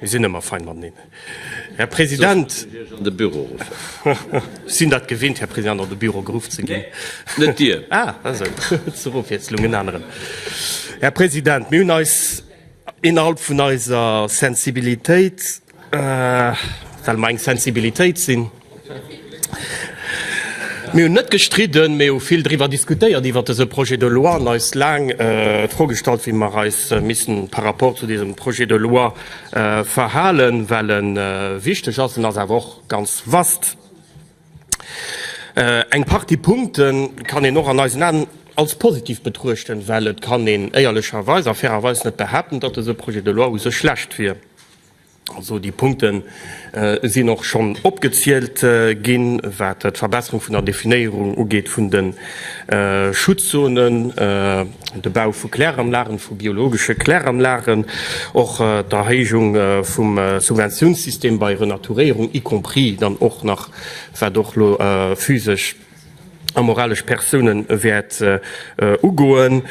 Mir sinn ëmmer fein mateneen, Här President. Sinn dat gewinnt, Här President, an de Büro geruff ze ginn. Här President, mir hunn eis innerhalb vun eiser Sensibilitéit Well mer eng Sensibilitéit sinn. Mir hunn net gestridden, mee hu vill driwwer diskutéiert, iwwert dese Projet de loi, an eis laang d'Fro gestallt, wéi mer eis missten par rapport zu diesem Projet de loi verhalen, well e wichteg ass. En ass awer och ganz vaste. Eng Partie Punkte kann een och an eisen Aen als positiv betruechten, well et kann een éierlecherweis a fairerweis net behaapten, datt dese Projet de loi u sech schlecht wier. Also déi Punkten sinn och schonn opgezielt ginn, wat d'Verbesserung vun der Definéierung ugeet vun de Schutzzonen, de Bau vu Kläranlagen, vu biologesche Kläranlagen, och d'Erhéijung vum Subventiounssystem bei Renaturéierung, y compris dann och nach, wat och elo physesch a moralesch Persoune wäert ugoen.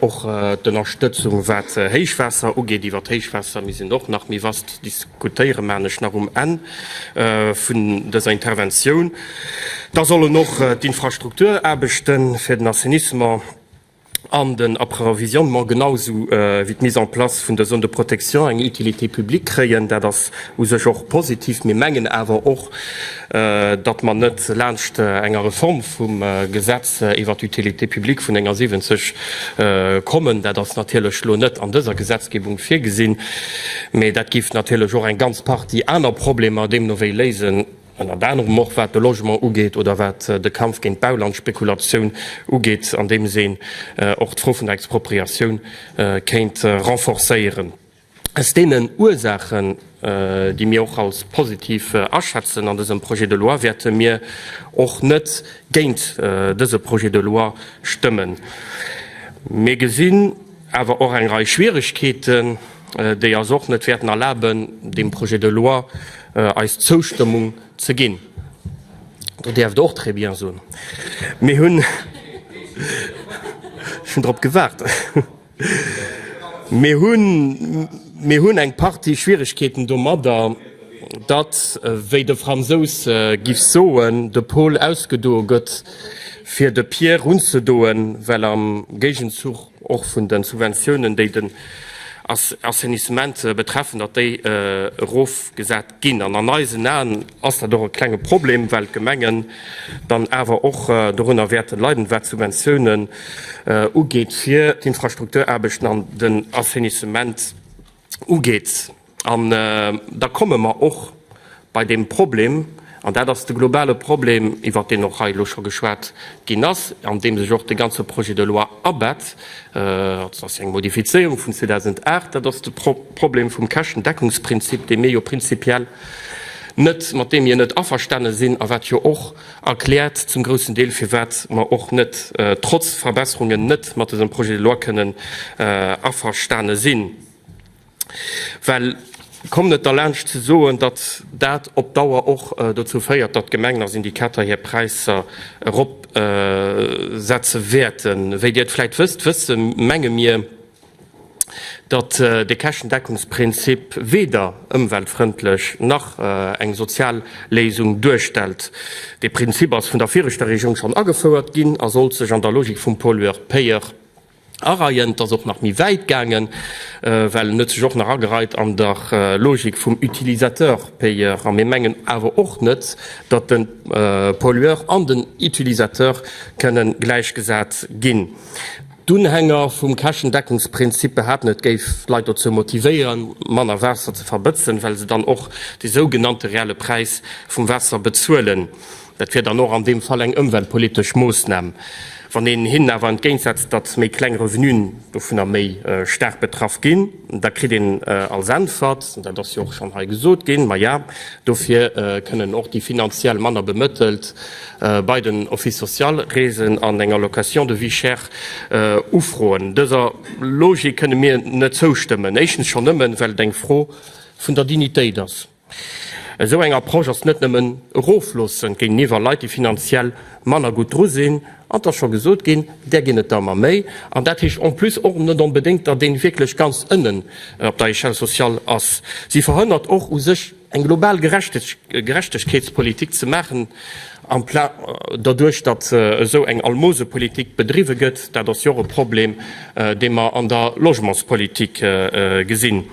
Och d'Ënnerstëtzung wat d'Héichwaasser ugeet, iwwer d'Héichwaasser, mir sinn och nach méi vast, diskutéiere man ech nach um Enn vun dëser Interventioun. Da sollen och d'Infrastrukturaarbechte fir den Assainissement an den Approvisionnement genausou wéi d'Mise en place vun der Zone de protection eng Utilité publique kréien. Dat ass u sech och positiv. Mir mengen awer och, datt mer net laanscht enger Reform vum Gesetz iwwert d'Utilité publique vun enger 70 kommen. Dat ass natierlech elo net an dëser Gesetzgebung virgesinn, mä dat géif natierlech och eng ganz Partie aner Problemer deemno wéi léisen. ënnert anerem och wat de Logement ugeet oder wat de Kampf géint d'Baulandspekulatioun ugeet, andeems een och d'Fro vun der Expropriatioun kéint renforcéieren. Aus deenen Ursaachen, déi mir och als positiv aschätzen an dësem Projet de loi, wäerte mir och net géint dëse Projet de loi stëmmen. Mir gesinn awer och eng Rei Schwieregkeeten. déi eis och net wäerten erlaben, deem Projet de loi eis Zoustëmmung ze ginn. Do däerft Der och très bien soen. Mir hunn, ech hunn drop gewaart, mir hunn, mir hunn eng Partie Schwierigkeeten domadder, datt, wéi de Fransous giff soen, de Paul ausgedoe gëtt, fir de Pierre unzedoen, well am Géigenzuch, och vun de Subventiounen, déi den Assainissement betreffen, datt déi erofgesat ginn. An an eisen Aen ass dat och e klenge Problem, well d'Gemengen dann awer och dorunner wäerte leiden, wat d'Subventiounen ugeet, fir d'Infrastrukturaarbechten an den Assainissement ugeet. An da komme mer och bei deem Problem, an dat ass de globale Problem, iwwert deen och hei elo scho geschwat ginn ass, an dee sech och de ganze Projet de loi abett, also, dat ass eng Modifizéierung vun 2008, dat ass de Problem vum Käschtendeckungsprinzip, dee mir jo prinzipiell net, mat deem mir net averstane sinn a wat jo och erkläert zum groussen Deel, firwat mer och net, trotz Verbesserungen, net mat dësem Projet de loi kënnen averstane sinn. Well, kommt net derlaanscht ze soen, datt dat op Dauer och dozou féiert, datt Gemengen a Syndikater hir Präisser eropsetze wäerten. Wéi Dir et vläicht wësst, wësse menge mir, datt de Käschtendeckungsprinzip weder ëmweltfrëndlech nach eng sozial Léisung duerstellt. Dee Prinzip ass vun der viregter Regierung schonn agefouert ginn a sollt sech an der Logik vum pollueur-payeur Areien. Et ass och nach méi wäit gaangen, well en huet sech och nach agereit an der Logik vum Utilisateur-payeur. A mir mengen awer och net, datt de Pollueur an den Utilisateur kënne gläichgesat ginn. D'Unhänger vum Käschendeckungsprinzip behaapten, et géif d'Leit dozou motivéieren, manner Waasser ze verbëtzen, well se dann och de sougenannte reelle Präis vum Waasser bezuelen. Dat wier dann och an deem Fall eng ëmweltpolitesch Moossnam, wann een hinnen awer entgéintsetzt, datt méi kleng Revenuen dovunner méi staark betraff ginn, da kritt een als Äntwert, dat ass jo och schonn hei gesot ginn, Maja, dofir kënnen och déi finanziell manner Bemëttelt bei den Office social reesen an eng Allocation de vie chère ufroen. Dëser Logik kënne mir net zoustëmmen, éischtens schonn nëmmen, well et eng Fro vun der Dignitéit ass. Esou eng Approche ass net nëmmen erofloossend géigeniwwer Leit, déi finanziell manner gutt dru sinn, an 't ass scho gesot ginn, där ginn et der ëmmer méi, an dat heescht en plus och net onbedéngt, datt een wierklech ganz ënnen op der Echelle sociale ass. Si verhënnert och u sech eng global Gerechtegkeetspolitik ze maachen, doduerch datt esou eng Almosepolitik bedriwwe gëtt. Dat ass jo och e Problem, dee mer an der Logementspolitik gesinn.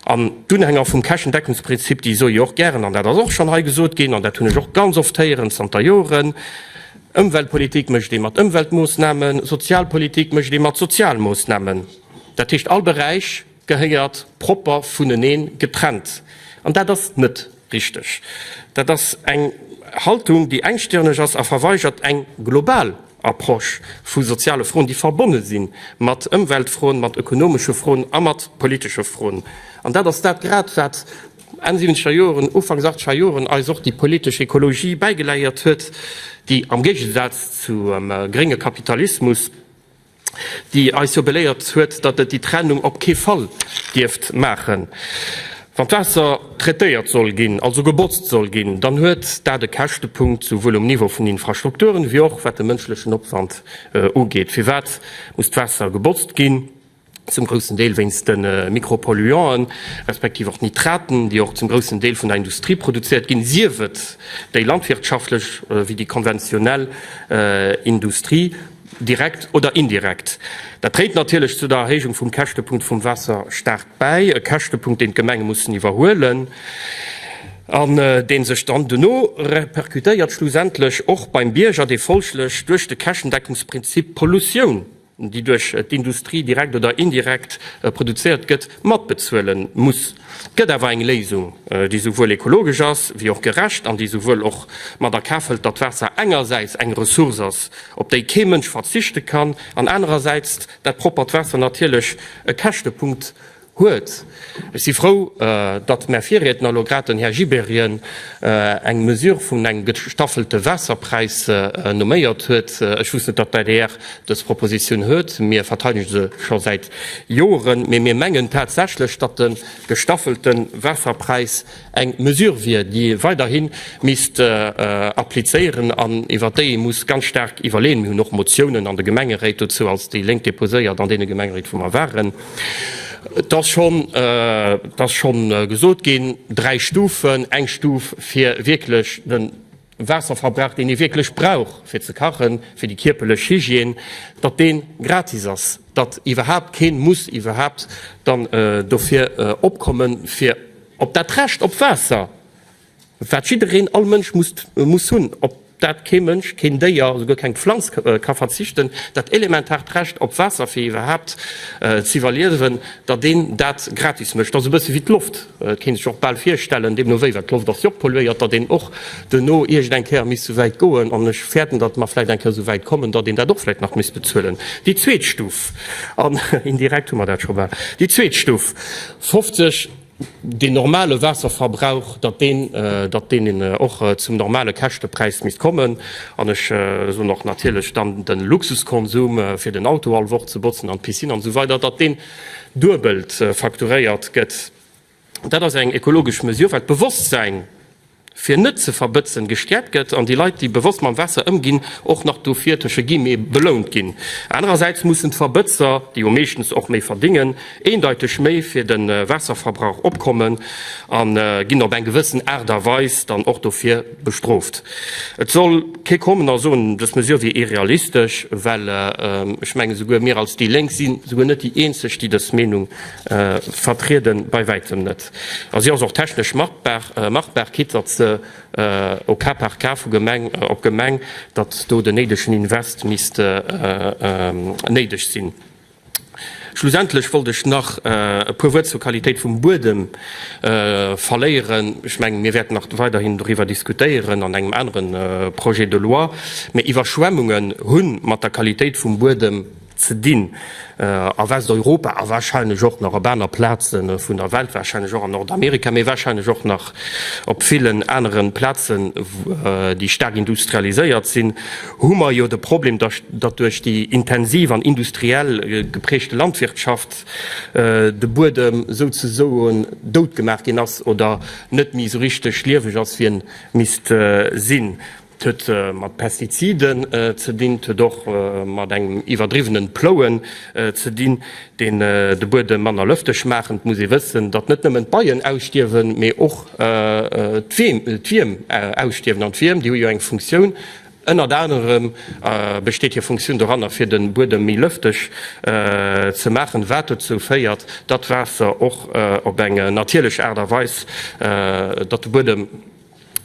An d'Unhänger vum Käschendeckungsprinzip, déi soe jo och gären, an dat ass och schonn hei gesot ginn, an dat hunn ech och ganz oft héieren zanter Joren, Ëmweltpolitik mécht ee mat Ëmweltmoossnamen, Sozialpolitik mécht ee mat Sozialmoossnamen. Dat heescht, all Beräich gehéiert propper vunenee getrennt. An dat ass net Richteg. Dat ass eng Haltung, déi engstirneg ass a verweigert eng global Approche vu soziale Froen, déi verbonne si mat Ëmweltfroen, mat ökonomesche Froen a mat politesche Froen. An dat ass dat grad, wat Enn siwwenzeger Joren, Ufanks achteger Joren eis och déi politesch Ekologie bäigeleiert huet, déi am Géigesaz zum grénge Kapitalismus, déi eis jo beléiert huet, datt et déi Trennung op kee Fall dierft maachen. Wann d'Waasser traitéiert soll ginn, also gebotzt soll ginn, dann huet dat e Käschtepunkt, souwuel um Niveau vun den Infrastrukturen, wéi och wat de mënschlechen Opwand ugeet. Firwat muss d'Waasser gebotzt ginn? Zum groussen Deel wéinst de Mikropolluanten, respektiv och Nitraten, déi och zum groussen Deel vun der Industrie produzéiert ginn, sief et déi landwirtschaftlech wéi déi konventionell Industrie. direkt oder indirekt. Dat dréit natierlech zu der Erhéijung vum Käschtepunkt vum Waasserstaat bäi, e Käschtepunkt, deen d'Gemenge mussen iwwerhuelen an dee sech dann duerno repercutéiert schlussendlech och beim Bierger, dee folglech duerch de Käschtendeckungsprinzip d'Pollutioun, déi duerch d'Industrie direkt oder indirekt produzéiert gëtt, matbezuele muss. Et gëtt awer eng Léisung, déi esouwuel ekologesch ass wéi och gerecht an déi esouwuel och mat a Kaf hëlt, datt d'Waasser engersäits eng Ressource ass, op déi kee Mënsch verzichte kann, an anerersäits dat proppert Waasser natierlech e Käschtepunkt huet. Ech si frou, datt mä Virriedner, elo grad den Här Gibéryen, eng Mesure vun engem gestaffelte Waasserpräis nomméiert huet. Ech wousst net, datt d'ADR Dës Proposition huet, mir verteidegen se scho säit Joren, mee mir mengen tatsächlech, datt de gestaffelte Waasserpräis eng Mesure wier, déi weiderhi misst applizéieren an iwwert déi ee muss ganz staark iwwerleeën. Mir hunn och Motiounen an de Gemengeréit dozou als déi Lénk deposéiert, an deene Gemengeréit, wou mer waren. Et ass schonn, et ass schonn gesot ginn, dräi Stufen, eng Stuf fir wierklech de. Waasserverbrauch, deen ee wierklech brauch fir ze kachen, fir déi kierperlech Hygiène, datt deen gratis ass, datt iwwerhaapt keen muss iwwerhaapt dann dofir opkommen, fir op dat Recht op Waasser, wat jiddereen, all Mënsch muss hunn, op dat kee Mënsch, keen Déier, esouguer keng Pflanz ka verzichten, dat elementaart Recht op Waasser, fir iwwerhaapt z'iwwerliewen, datt een dat gratis mécht. Dat ass e bësse wéi d'Loft. Et kéint sech och bal virstellen, deemno wéi, well d'Loft ass jo och polluéiert, datt een och duerno iergend eng Kéier misst souwäit goen, an ech fäerten, datt mer vläicht eng Kéier souwäit kommen, datt een dat och vläicht nach misst bezuelen, déi zweet Stuf. An indirekt hu mer dat scho bal. Déi zweet Stuf 50, deen normale Waasserverbrauch, datt deen, datt deen och zum normale Käschtepräis misst kommen. An ech soen och natierlech dann de Luxuskonsum, fir den Auto all Woch ze botzen an d'Piscine an esou weider, datt deen, duebelt facturéiert gëtt. Dat ass eng ekologesch Mesure, well d'Bewosstsäin, fir net ze verbëtzen, gestäerkt gëtt an déi Leit, déi bewosst mam Waasser ëmginn, och nach dofir, tësche Guillemets, belount ginn. Anerersäits mussen d'Verbëtzer, déi jo meeschtens och méi verdéngen, eendeiteg méi fir de Waasserverbrauch opkommen a ginn op eng gewëssen Aart a Weis dann och dofir, bestrooft. Et soll kee kommen a soen, dës Mesure wier irrealistesch, well ech mengen, esouguer mir als déi Lénk si souguer net déi Eenzeg, déi dës Meenung vertrieden, bei wäitem net. A si ass och technesch machbar, quitt datt se au cas par cas vu Gemeng op Gemeng, datt do den néidegen Invest misst néideg sinn. Schlussendlech wollt ech nach e puer Wuert zur Qualitéit vum Buedem verléieren. Ech mengen, mir wäerten nach weiderhin doriwwer diskutéieren an engem anere Projet de loi. Mee Iwwerschwemmungen hu mat der Qualitéit vum Buedem ze dinn a Westeuropa a warscheinlech och nach op aner Plaze vun der Welt, warscheinlech och an Nordamerika, mee warscheinlech och nach op villen anere Plazen, déi staark industrialiséiert sinn. hu mer jo de Problem, datt duerch déi intensiv an industriell geprägte Landwirtschaft de Buedem souzesoen dout gemaach ginn ass oder net méi esou richteg lieweg ass, wéi en misst sinn. Et huet mat Pestiziden ze dinn, et huet och mat engem iwwerdriwwenen Plouen ze dinn, deen de Buedem manner lëfteg maachen. Et muss ee wëssen, datt net nëmmen d'Beien ausstierwen, mee och d'Wierm ausstierwen. An d'Wierm, déi hu jo eng Funktioun. Ënnert anerem besteet hir Funktioun doranner, fir de Buedem méi lëfteg ze maachen, wat dozou féiert, datt d'Waasser och op eng natierlech Aart a Weis, datt de Buedem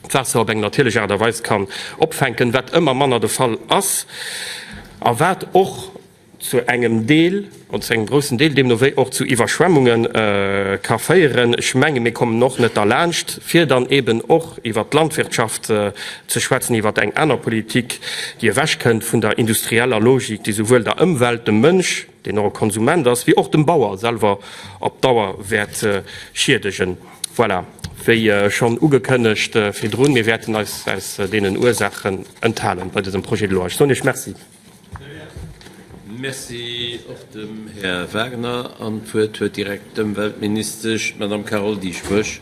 d'Waasser op eng natierlech Aart a Weis kann opfänken, wat ëmmer manner de Fall ass a wat och, zu engem Deel oder zu engem groussen Deel deemno wéi och zu Iwwerschwemmunge ka féieren. Ech menge mir kommen och net derlaanscht, fir dann eeben och iwwert d'Landwirtschaft ze schwätzen, iwwert eng aner Politik, déi ewechkënnt vun der industrieller Logik, déi souwuel der Ëmwelt, dem Mënsch, deen och e Konsument ass, wéi och dem Bauer selwer op Dauer wäert schiedegen. Voilà, wéi schonn ugekënnegt virdrun, mir wäerten eis aus deenen Ursaachen enthalen bei dësem Projet de loi. Ech soen Iech Merci. Merci och dem Här Wagner. An d'Wuert huet direkt d'Ëmweltministesch, d'Madame Carole Dieschbourg.